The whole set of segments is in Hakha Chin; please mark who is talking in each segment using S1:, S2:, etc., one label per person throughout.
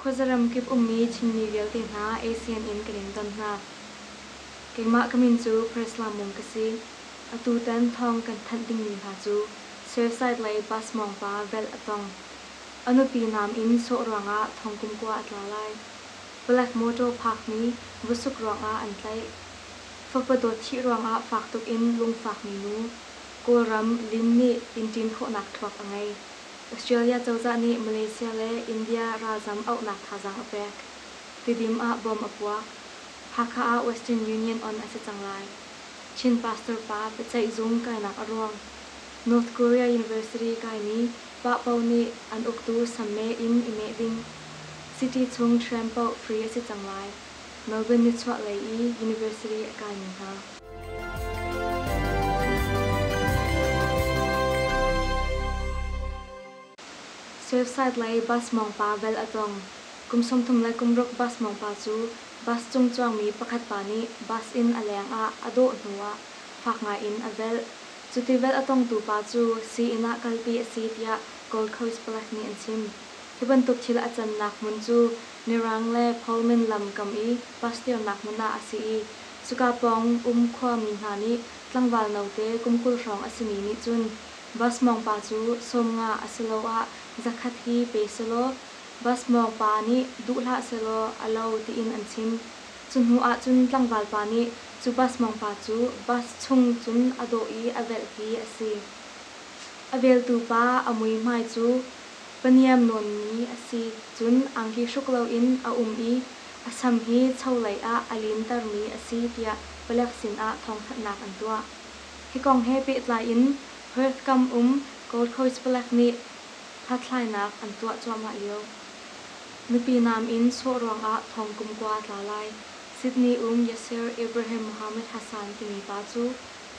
S1: Khuazaram kip ummi Chinmi vialte hna ASEAN in kan in ton hna. Keimah ka min cu Prisla Mung ka si. Atu tan thawng kan thanh dingmi hna cu Surfside lei bus mawngpa velh a tong. A nupi nam in sawh ruangah thongkum kua a tla lai. Black motor phakmi vusuk ruangah an tlaih. Fapa dawt thih ruangah fak tuk in lungfakmi nu. Kawlram Lin nih inn ṭin khawhnak thluak a ngei. Australia cozah nih Malaysia le India ralzam auhnak thazaang a pek. Tidim ah bom a puak. Hakha ah Western Union on a si cang lai. Chin pastor pa biaceih zung kainak a ruang. North Korea University kaimi Pahpo nih an uktu samme in i meh ding. City chung tram paoh free a si cang lai. Melbourne nichuah lei i university a kaimi hna. Surfside lei bus mawngpa vel a tlong. Kum sawmthum le kum ruk bus mawngpa cu bus cung cuangmi pakhat pa nih bus in a leng ah a dawh hnu ah fak ngai in a velh. Cu tivelh a tongtu pa cu sii-inn ah kalpi a si tiah Gold Coast Black nih an chim. Hi bantuk thil a cannak hmun cu Mirang le Pullman lam kam i Pastirnak hmun ah a si i cuka pawng um khuami hna nih tlangval note kum kul hrawng a simi nih cun Bus mawng pa cu sawmnga asiloah zakhat hi pe sehlaw Bus mawng pa nih duh hlah sehlaw a lo tiin an chim. Cu hnu ahcun tlangval pa nih cu bus mawngpa cu bus chung cun a dawh i a velh hi a si. A veltu pa a muihmai cu paniam nawnmi a si, cun angki hruk loin a um i a sam hi cho lei ah a lintermi a si tiah palek sinah thawngthanhnak an tuah. Hi kong he pehtlai in Perth kam um Gold Coast palek nih hlathlainak an tuah cuahmah lio. Nupi naam in sawh ruangah thawngkum kua a tla lai. Sydney um Yasser Ibrahim Mohammed Hassan timi pa cu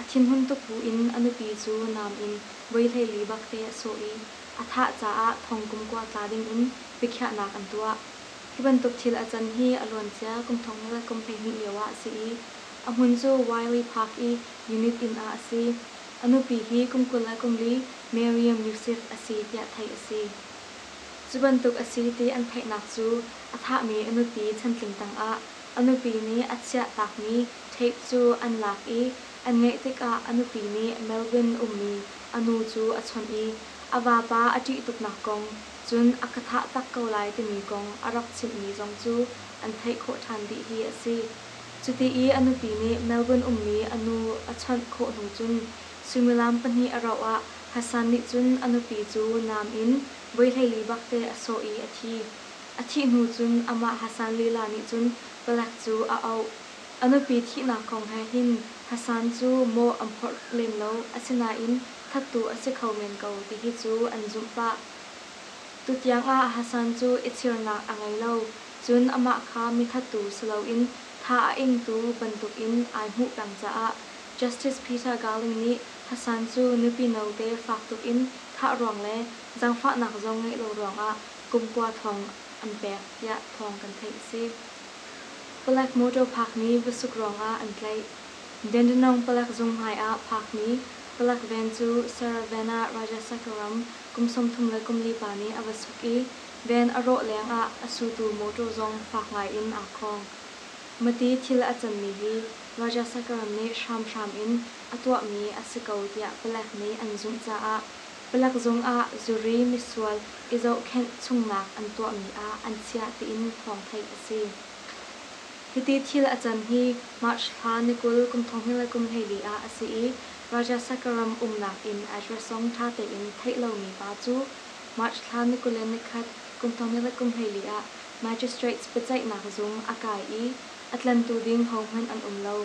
S1: a thinhun tuk buin a nupi cu naam in voihleili bak te a sawh i a thah caah thawngkum kua tla dingin biakhiahnak an tuah. Hi bantuk thil a can hi a luancia kum thong le kum hleihnih lioah a si i a hmun cu Wiley Park i unit inn ah a si. A nupi hi kum kul le kum li Maryam Yusuf a si tiah theih a si. Cu bantuk a si ti an theihnak cu a thahmi a nupi chantling tangah a nupi nih a chiah takmi tape cu an lak i an ngeih tikah a nupi nih Melbourne ummi a nu cu a chawnh i a vapa a ṭih tuknak kong, cun a ka thah tak ko lai timi kong a rak chimhmi zong cu an theih khawh ṭhan dih hi a si. Cuti i a nupi nih Melbourne ummi a nu a chawnh khawh hnu cun suimilam pahnih a rauh ah Hassan nih cun a nupi cu nam in voihleili bakte a sawh i a thi. A thih hnu cun amah Hassan lila nih cun palek cu a auh. A nupi thihnak kong he hin Hassan cu mawh an phorh lem lo, asinain thattu a si kho men ko tihi cu an zumh pah. Tutiang ah Hassan cu ithirnak a ngei lo, cun amah kha mithattu si loin tha a ingtu bantukin ai hmuh peng caah Justice Peter Garling nih Hassan cu nupi note fak tuk in thah ruang le zangfahnak zong ngeih lo ruangah kumkua thawng an pek tiah thawng kan theih a si. Palek motor phakmi vasuk ruangah an tlaih. Dandenong palek zung hmaiah phakmi palek van cu Saravana Rajasakaram kum sawmthum le kum lipa nih a va suk i van a rawh lengah a sutu motor zong fak ngaiin aa khawng. Mati thil a canmi hi Rajasakaram nih hramhram in a tuahmi a si ko tiah palek nih an zumh caah palek zung ah zuri misual i zohkhenh chungnak an tuahmi ah an chiah tiin thawng theih a si. Hiti thil a can hi March thla ni kul kum thong hnih le kum hleili ah a si i Rajasakha ram umnak inn addressong ṭha tein theih lomi pa cu March thla ni kul le ni khat kum thong hnih le kum hleili ah magistrates biaceihnak zung a kai i a tlantu ding hohmanh an um lo.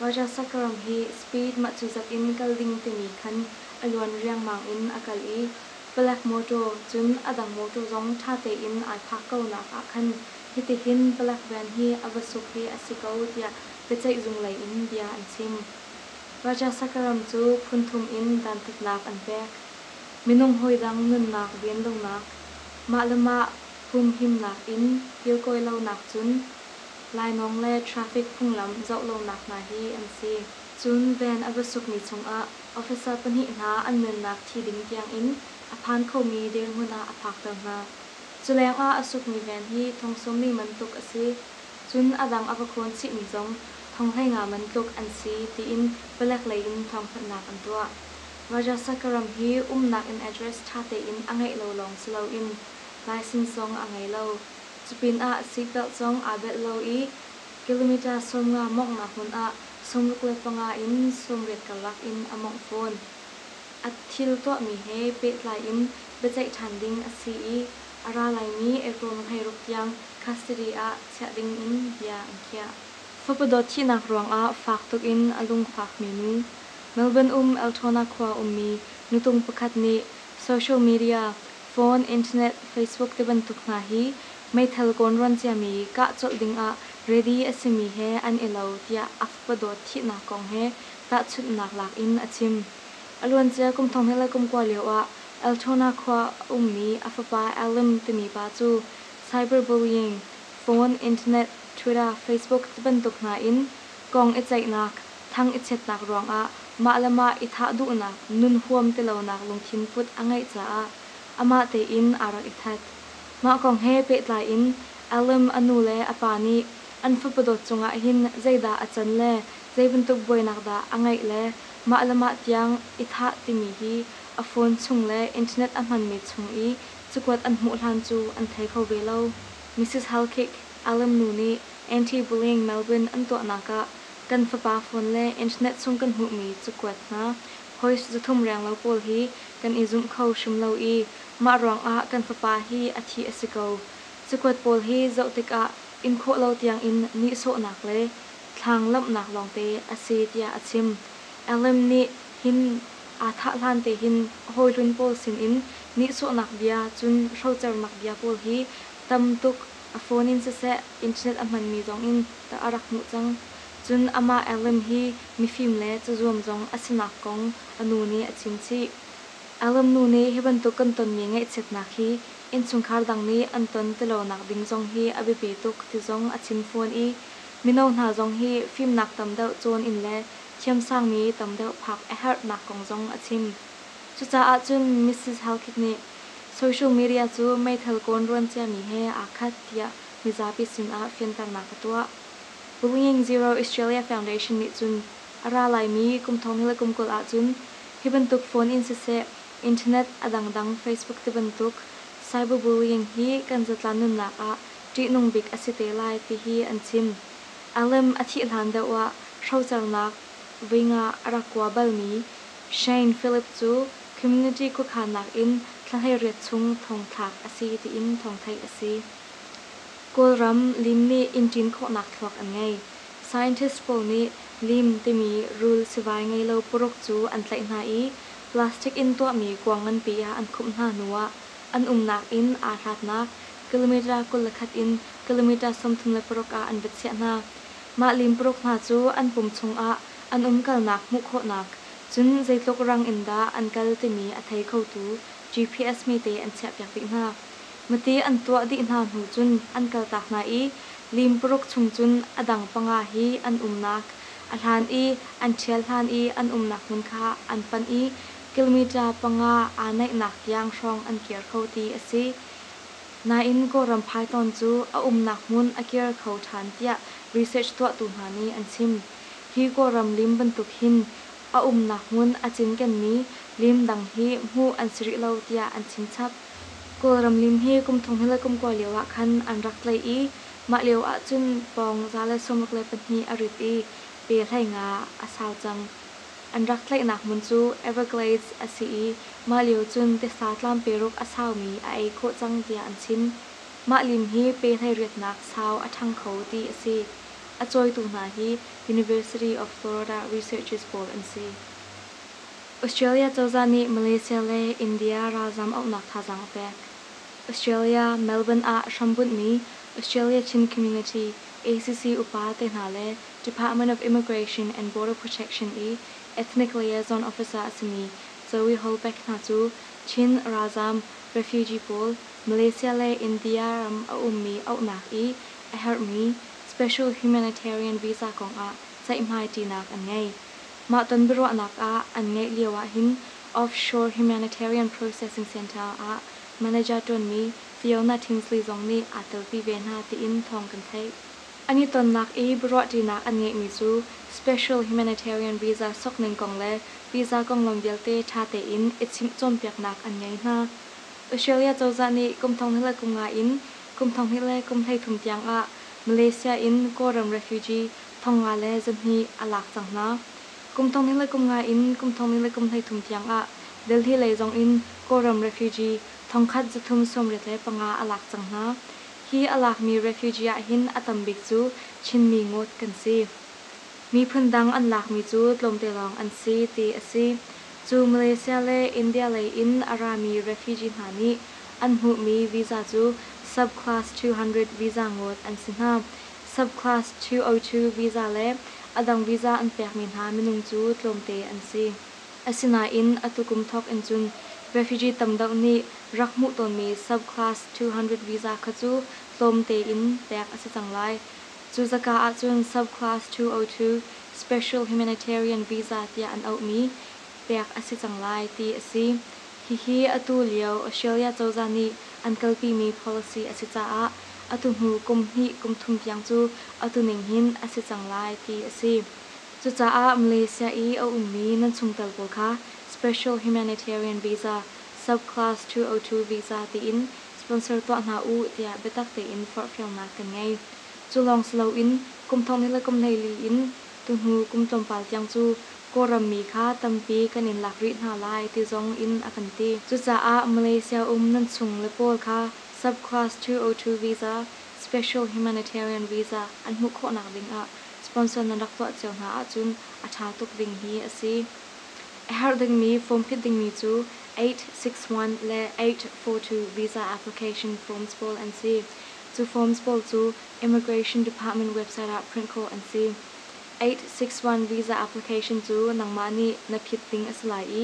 S1: Rajasakh ram hi speed mahcuzak in kal ding timi khan a luan riangmang in a kal i Black mawtaw, cun a dang mawtaw zong ṭha tein aa thlak ko nak ah khan hitihin Black van hi a va suk hi a si ko tiah biaceihzung lei in bia an chim. Rajasakh ram cu phun thum in dantatnak an pek. Minung hawi dang nunnak venlonak, mah le mah humhimnak in irkawi lonak cun Lainawng le traffic phunglam zoh lonak hna hi an si. Cun van a va sukmi chungah officer pahnih hna an nunnak thi ding tiangin a phan khomi dirhmun ah a phakter hna. Culengah a sukmi van hi thong sawmli man tluk a si. Cun a dang a va khawn chihmi zong thong hleinga man tluk an si tiin palek leiin thawngthanhnak an tuah. Rajasakkaram hi umnak in address tha tein a ngeih lo lawng si loin license zong a ngei lo. Cupinah seatbelt zong aa velh lo i kilometre sawmnga mawnghnak hmun ah sawmruk le panga in sawmriat karlak in a mawngh fawn. A thil tuahmi he pehtlai in biaceih ṭhan ding a si i a ra laimi April nihleiruk tiang custody ah chiah ding in bia an khiah. Fapa dawt thihnak ruangah fak tuk in a lungfakmi nu, Melbourne um Eltona khua ummi nutung pakhat nih social media Phone, Internet, Facebook tibantuk hna hi meithal kawnrawn ciami kah colh dingah ready a simi he an i lo tiah Akpadaw thihnak kong he tahchunhnak lak in a chim. A luancia kum thong hnih le kum kua lioah Altona khua a ummi a fapa Alan timi pa cu cyber bullying, phone, Internet, Twitter, Facebook tibantuk hna in Kong i ceihnak, thang i chiatnak ruangah mah le mah i thah duhnak, nun huam ti lonak lungthin put a ngeih caah amah tein aa rak i that. Mah kong he pehtlai in Alam a nu le a pa nih an fapa dawt cungah hin zeidah a can le zei bantuk buainak dah a ngeih le mah le mah tiang i thah timi hi a phone chung le internet a hmanmi chung i cakuat an hmuh hlan cu an thei kho ve lo. Misis Halkick, Alam nu nih Anti-bullying Melbourne an tuahnak ah kan fapa phone le internet chung kan hmuhmi cakuat hna, hoist zathum renglo pawl hi kan i zumh kho hrim lo i mah ruangah kan fapa hi a thih a si ko. Cakuat pawl hi zoh tikah inkhawh lo tiangin nihsawhnak le thlang lamhnak lawngte a si tiah a chim. Allen nih hin aa thah hlan te hin hawi hlun pawl sinin nihsawhnak bia cun hrocernak bia pawl hi tam tuk A phone in siseh internet a hmanmi zong in tah a rak hmuh cang. Cun amah Alan hi mifim le cazuam zong a sinak kong a nu nih a chim chih. Alan nu nih hi bantuk kan tonmi ngaihchiatnak hi innchungkhar dang nih an ton ti lonak ding zong hi a biapi tuk ti zong a chim fawn i mino hna zong hi fimnak tam deuh cawn in le thiamsangmi tam deuh phak a herhnak kong zong a chim. Cucaah cun Mrs. Halkit nih Social media cu meithal kawnruan ciami he aa khat tiah mizapi sinah fianternak ka tuah. Pu Nging Zero Australia Foundation nih cun a ra laimi kum thong le kum kul ahcun hi bantuk phone in siseh, internet a dangdang Facebook tibantuk cyberbullying hi kan zatlan nunnak ah ṭihnung bik a si te lai tihi an chim. A lem a thih hlan deuh ah hrocernak, voi nga a rak kua balmi, Shane Phillip cu community khuakhannak in thlahleiriat chung thongthlak a si tiin thawngtheih a si. Kawlram lim nih inn ṭin khawhnak thluak an ngei. Scientists pawl nih lim timi rul sivai ngei lo paruk cu an tlaih hna i plastic in tuahmi kuang nganpi ah an khumh hna hnu ah an umnak inn aa hlatnak kilometre kul le khat in kilometre sawmthum le paruk ah an va chiah hna. Mah lim paruk hna cu an pum chung ah an umkalnak hmuh khawhnak, cun zeitluk rang in dah an kal timi a thei khotu GPS mite an chiahpiak dih hna. Mati an tuah dih hna hnu cun an kaltak hna i lim paruk chung cun a dang panga hi an umnak a hlan i an ṭhial hlan i an umnak hmun kha an panh i kilometre panga aa naihnak tiang hrawng an kir kho ti a si. Nain Kawlram Python cu a umnak hmun a kir kho ṭhan tiah research tuahtu hna nih an chim. Hi Kawlram lim bantuk hin a umnak hmun a cinkenmi lim dang hi hmuh an si rih lo tiah an chim chap. Kawlram lim hi kum thong he le kum kua lio ah khan an rak tlaih i mah lio ahcun pawng za le sawmruk le pahnih a rit i pe hlei nga a sau cang. An rak tlaihnak hmun cu Everglades a si i mah lio cun tiasa tlamperuk a saumi a ei khawh cang tiah an chim. Mah lim hi pe hlei riatnak sau a ṭhang kho ti a si. A cawitu hna hi University of Florida researchers pawl an si. Australia cozah nih Malaysia le India ralzam auhnak thazaang a pek. Australia, Melbourne ah hrambunhmi Australia Chin Community, ACC upa te hna le Department of Immigration and Border Protection i Ethnic Liaison Officer a simi Zoe Holbeck hna cu Chin ralzam, refugee, pawl Malaysia le India ram a ummi auhnak i a herhmi special humanitarian visa kong ah ceihmai ṭinak an ngei. Mah ton biaruahnak ah an ngeih lio ahhin Offshore Humanitarian Processing Center ah manager ṭuanmi Fiona Tinsley zong nih aa telpi ve hna tiin thawng kan theih. An i tonnak i biaruahṭinak an ngeihmi cu special humanitarian visa sokning kong le visa konglam vialte ṭha tein i chimh cawnpiaknak an ngei hna. Australia cozah nih kum thonghna le kunga in Kum thonghnih le kum hleithum tiangah Malaysia in Kawlram refugee thong nga le zahnih a lak cang hna. Kum thonghnih le kum nga in kum thonghnih le kum hleithum tiangah Delhi lei zong in Kawlram refugee thongkhat zathum sawmriat le panga a lak cang hna. Hi a lakmi refugee ahhin a tambik cu Chinmi ngawt kan si. Miphun dang an lakmi cu tlawmte lawng an si ti a si. Cu Malaysia le India lei in a rami refugee hna nih An hmuhmi visa cu Sub-class two hundred visa ngawt an si hna. Sub-class two oh two visa le a dang visa an pekmi hna minung cu tlawmte an si. Asinain atu kum thawk in cun refugee tam deuh nih rak hmuh tawnmi Sub-class two hundred visa kha cu tlawm tein pek a si cang lai. Cu zaka ahcun Sub-class two oh two Special Humanitarian Visa tiah an auhmi pek a si cang lai ti a si. Hihi atu lio Australia cozah nih an kalpimi policy a si caah atu hnu kum hnih kum thum tiang cu atu ning hin a si cang lai ti a si. Cucaah Malaysia i a ummi nan chungtel pawl kha Special Humanitarian Visa, Sub-Class two oh two Visa tiin sponsor tuah hna u tiah biatak tein forhfialnak kan ngei. Cu lawng si loin kum thong le kum hlei li in tu hnu kum tlawmpal tiang cu Kawlram mi kha tampi kan in lak rih hna lai ti zong in a kan ti. Cucaah Malaysia um nan chung le pawl kha Subclass two oh two visa, Special Humanitarian Visa, an hmuh khawhnak ding ah sponsor nan rak tuah cio hna ahcun a ṭha tuk ding hi a si. A herh dingmi form phit dingmi cu eight six one le eight four two visa application forms pawl an si. Cu forms pawl cu Immigration Department website ah print khawh an si. Eight six one visa application cu nangmah nih na phit ding a si lai i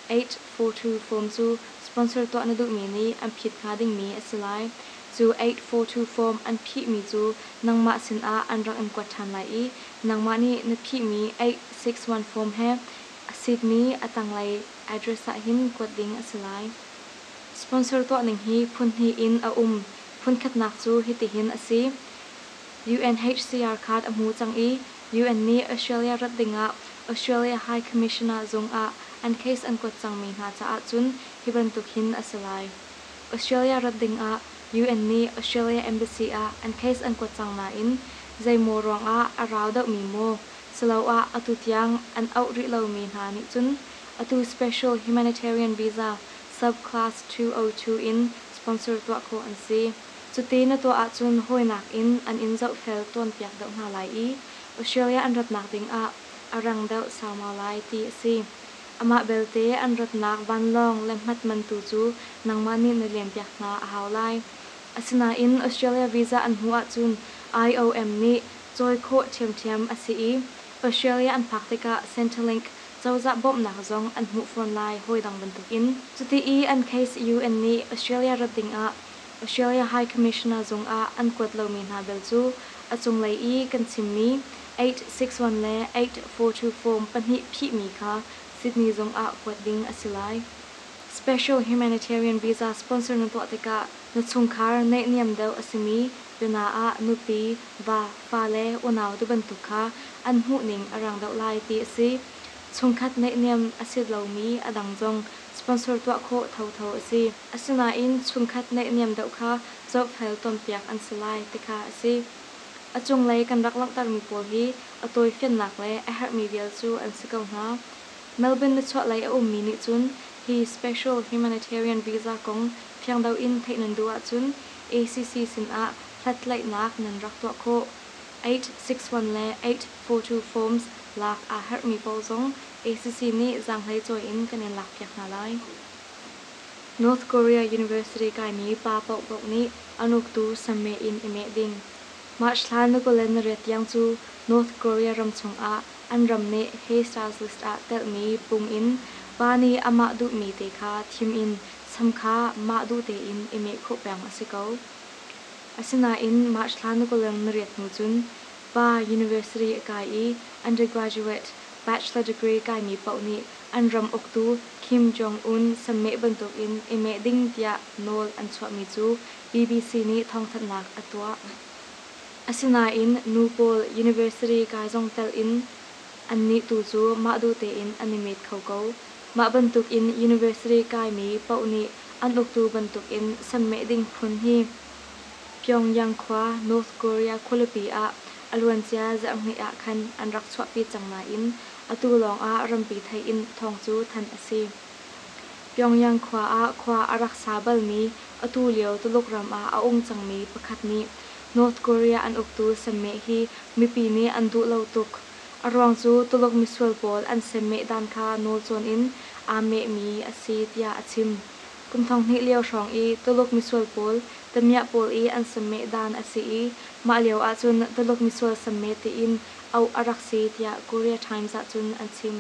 S1: eight four two form cu sponsor tuah na duhmi nih an phit hnga dingmi a si lai. Cu eight four two form an phihmi cu nangmah sinah an rak in kuat ṭhan lai i nangmah nih na phihmi eight six one form he a sitmi a tanglei address ah hin kuat ding a si lai. Sponsor tuahning hi phun hnih in a um, phun khatnak cu hitihin a si. UNHCR card a hmu cang i UN nih Australia rat dingah Australia High Commissioner zungah an case an kuat cangmi hna caah cun hi bantuk hin a si lai. Australia rat dingah UN nih Australia Embassy ah an case an kuat cang nain zeimaw ruangah a rau deuhmi maw siloah atu tiang an auh rih lomi hna nih cun atu special humanitarian visa sub-class two oh two in sponsor tuah khawh an si. Cuti na tuah ahcun hawinak in an in zohfel tawnpiak deuh hna lai i Australia an ratnak ding ah a rang deuh saumau lai ti a si. Amah belte an ratnak vanlawng le hmat man tu cu nangmah nih na lianpiak hna a hau lai. Asinain Australia visa an hmuh ahcun IOM nih cawi khawh ṭhiamṭhiam a si i Australia an phak tikah Centrelink cozah bawmhnak zong an hmuh fawn lai hawidang bantukin. Cuti i an case UN nih Australia rat ding ah Australia High Commissioner zung ah an kuat lomi hna bel cu a cunglei i kan chimmi eight six one le eight four two form pahnih phihmi kha Sydney zung ah kuat ding a si lai. Special Humanitarian Visa sponsor na tuah tikah na chungkhar naihniam deuh a simi pyina ah nupi, va, fale, unau ti bantuk kha an hmuhning a rang deuh lai ti a si. Chungkhat naihniam a si lomi a dang zong sponsor tuah khawh thotho a si. Asinain chungkhat naihniam deuh kha zohfel cawnpiak an si lai ti kha a si. A cunglei kan rak langhtermi pawl hi a tawifiannak le a herhmi vial cu an si ko hna. Melbourne nichuahlei a ummi nih cun hi special humanitarian visa kong fiangdeuh in theih nan duh ahcun ACC sinah hlathlaihnak nan rak tuah khawh. Eight six one le eight four two forms lak aa herhmi pawl zong ACC nih zaanghlei cawi in kan in lakpiak hna lai. North Korea University kaimi pa paohpaoh nih an uktu sammeh in i meh ding. March thla Nagaland ret tiang cu North Korea ram chungah an ram nih Hay Stars list ah telhmi pung in pa nih amah duhmi te kha thim in sam kha mah duh tein i meh khawh peng a si ko. Asinain March thla Nagaland ret hnu cun pa university a kai i undergraduate, bachelor degree kaimi paoh nih an ram uktu Kim Jong-un sammeh bantukin i meh ding tiah nawl an chuahmi cu BBC nih thawngthanhnak a tuah. Asinain nu pawl university kai zong telh in annih tu cu mah duh tein an i met kho ko. Mah bantukin university kaimi paoh nih an uktu bantukin sammeh ding phun hi Pyongyang khua North Korea khualipi ah a luancia zarhhnih ah khan an rak chuahpi cang nain Atu lawngah rampi theih in thawng cu thanh a si. Pyongyang khua ah khua a rak sa balmi atu lio Tuluk ram ah a um cangmi pakhat nih North Korea an uktu semmeh hi mipi nih an duh lo tuk. A ruang cu Tuluk misual pawl an semmeh dan kha nawl cawn in aa mehmi a si tiah a chim. Kum thong hnih lio hrawng i Tuluk misual pawl tamiah pawl i an sammeh dan a si i mah lio ahcun Tuluk misual sammeh tiin auh a rak si tiah Korea Times ahcun an chim.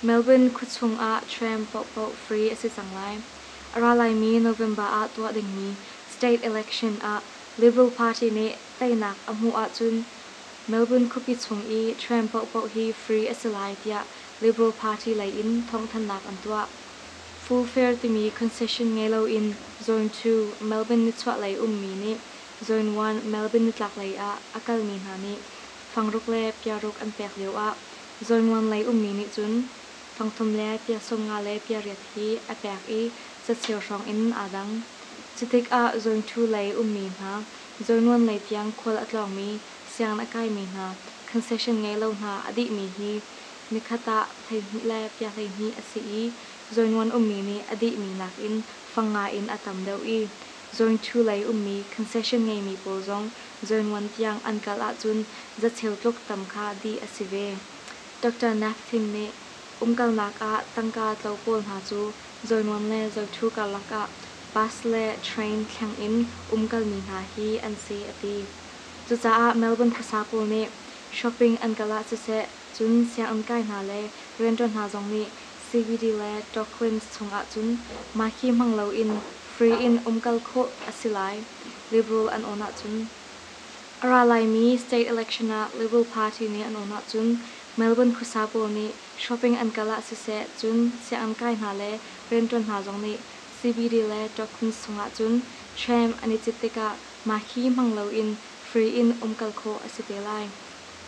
S1: Melbourne khuachung ah tram paohpaoh free a si cang lai. A ra laimi November ah tuah dingmi state election ah Liberal Party nih teinak a hmuh ahcun Melbourne khuapi chung i tram paohpaoh hi free a si lai tiah Liberal Party lei in thawngthanhnak an tuah. Fu Fair timi concession ngei loin Zone two, Melbourne nichuah lei ummi nih Zone one, Melbourne nitlak lei ah a kalmi hna nih fangruk le piaruk an pek lioah Zone one lei ummi nih cun fangthum le pia sawmnga le pia riat hi a pek i cacheu hrawng in aa dang. Cutikah Zone two lei ummi hna, Zone one lei tiang khual a tlawngmi, siang a kaimi hna, concession ngei lo hna a dihmi hi Nikhat ah hleihnih le pia hleihnih a si i zawinuan ummi nih a dihmi nakin fang ngaiin a tam deuh i zawingṭhu lei ummi concession ngeimi pawl zong zawinuan tiang an kal ahcun zacheu tluk tam kha dih a si ve. Doctor Naphthin nih umkalnak ah tangka tlo pawl hna cu zawinuan le zawiṭhu karlak ah bus le train thleng in umkalmi hna hi an si a ti. Cucaah Melbourne phasa pawl nih shopping an kal ah siseh Cun sianginn kai hna le rianṭuan hna zong nih CBD le Torquins chungah cun mah hi hmang loin free in um kal khawh a si lai, Liberal an awn ahcun. A ra laimi state election ah Liberal Party nih an awn ahcun Melbourne khuasa pawl nih shopping an kal ah siseh cun sianginn kai hna le rianṭuan hna zong nih CBD le Torquins chungah cun hrem an i cit tikah mah hi hmang loin free in um kal khawh a si te lai.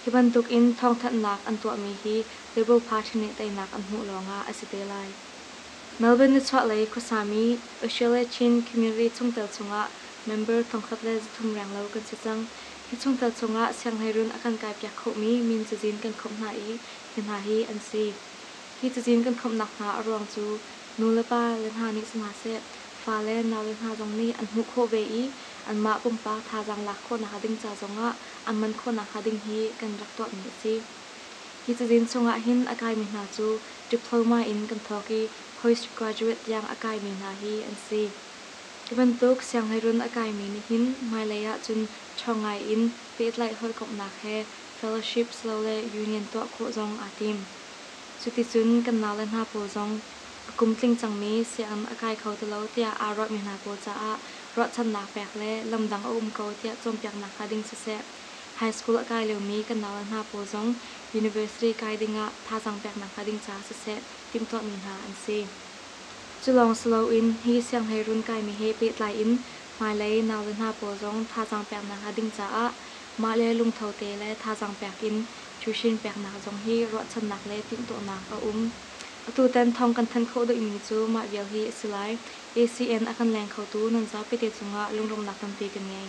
S1: Hi bantuk in thawngthanhnak an tuahmi hi Labour Party nih teinak an hmuh lawngah a si te lai. Melbourne nichuahlei khuasami Oshiele-Chin community chungtel chungah member thongkhat le zathum renglo kan si cang. Hi chungtel chungah sianghleirun a kan kaipiak khohmi min cazin kan khawmh hna i hi hna hi an si. Hi cazin kan khawmhnak hna a ruang cu nu le pa le hna nih sihmahseh fa le nau le hna zong nih an hmuh khawh ve i anmah pumpak thazaang lak khawh nakhnga ding ca zongah an man khawh nakhnga ding hi kan rak tuahmi a si. Hi cazin chungah hin a kaimi hna cu diploma in kan thawk i postgraduate tiang a kaimi hna hi an si. Hi bantuk sianghleiruun a kaimi nih hin hmailei ahcun ṭha ngai in pehtlaih hawikomhnak he fellowship silole union tuah khawh zong aa tim. Cuticun kan nau le hna pawl zong a kum tling cangmi siam a kai kho ti lo tiah aa ruahmi hna pawl caah ruahchannak pek le lam dang a um ko tiah cawnpiaknak hla ding siseh, high school a kai liomi kan nau le hna pawl zong university kai ding ah thazaang peknak hla ding ca siseh timhtuahmi hna an si. Cu lawng si loin hi sianghleirun kaimi he pehtlai in hmailei nau le hna pawl zong thazaang peknak hla ding caah mahle lungtho te le thazaang pek in tuition peknak zong hi ruahchannak le timhtuahnak a um. Atutan thawng kan thanh khawh duhmi cu mah vial hi a si lai. ACN a kan leng khotu nan zapite cungah lunglawmhnak tampi kan ngei.